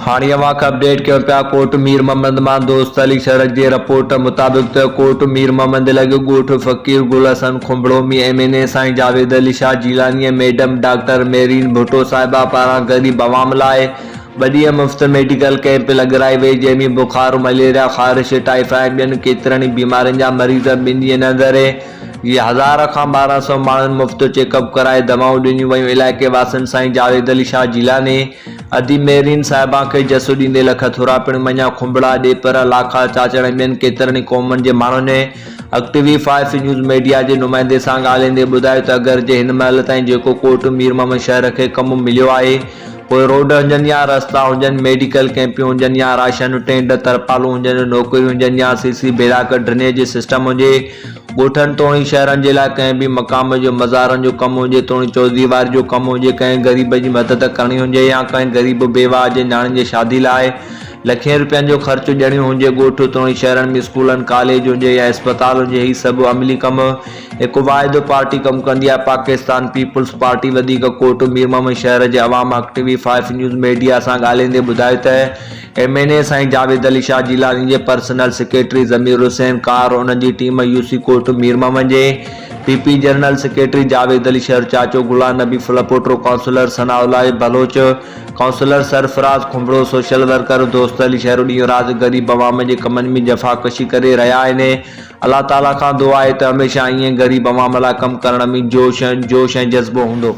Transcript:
هاڻي اوهان کي اپڊيٽ ڪيون پيا ڪوٽ مير محمد مان دوست علي سرڙڪ جي رپورٽ مطابق ته ڪوٽ مير محمد ضلعي جو ڳوٺ فقير گل حسن کنڀڙو ۾ ايم اين اي سائين جاويد علي شاهه جيلاني ۽ ميڊم ڊاڪٽر ميرين ڀٽو صاحبه پاران غريب عوام لاء ٻه ڏينهن مفت ميڊيڪل ڪئمپ لڳرائي وئي جنهن ۾ بخار مليريا خارش ٽائيفا ۽ ٻين ڪيترن ئي بيمارين جا مريض ٻن ڏينهن اندر ئي هزار کان ٻارهن سئو ماڻهن مفت چيڪ اپ ڪرائي دوائون ڏنيون ويون علائقي واسين سائين جاويد علي شاهه جيلاني ادي ميرين صاحبان کي جسو ڏيندي لک ٿورا پڻ مڃيا کنڀڙا، ڏيپر، لاکا، چاچڙ ۽ ٻين ڪيترن ئي قومن جي ماڻهن ۽ اڳ T V five news media جي نمائندي سان ڳالهائيندي ٻڌايو ته اگرچه هن مهل تائين جيڪو ڪوٽ مير محمد شهر کي ڪم مليو آهي پوء روڊ هجن يا رستا هجن ميڊيڪل ڪيمپيون هجن يا راشن ٽينڊ ترپالون هجن نوڪريون هجن يا C C block drainage system هجي ڳوٺن توڻي شهرن جي لاء ڪنهن به مقام جو مزارن جو ڪم هجي توڻي چورديواري جو ڪم هجي، ڪنهن غريب جي مدد ڪرڻي هجي يا ڪنهن غريب بيواهه جي نياڻين جي شادي لاء لکين روپين جو خرچ ڏيڻيون هجي، ڳوٺ توڻي شهرن ۾ اسڪولن، ڪاليج هجي يا اسپتال هجي هي سڀ عملي ڪم هڪ واحد پارٽي ڪم ڪندي آهي پاڪستان پيپلز پارٽي وڌيڪ ڪوٽ ميرمحمد شهر جي عوام اڪٽوي فائيف نيوز ميڊيا سان ڳالهيندي ٻڌايو ته ايم اين اي سائين جاويد علي شاهه جيلاني جي پرسنل سيڪريٽري ضمير حسين ڪار ۽ انهن جي team U C court Mir Muhammad جي P P general secretary Javed Ali Shar چاچو Ghulam Nabi Phulpoto councillor Sana Ullah Baloch councillor Sarfaraz Khanbhro social worker Dost Ali Shahro ڏينهن رات غريب عوام جي ڪمن ۾ جفاڪشي ڪري رهيا آهن الله تعاليٰ کان دعا آهي ته هميشه ائين غريب عوام لاء ڪم ڪرڻ ۾ جوش ۽ جذبو هوندو.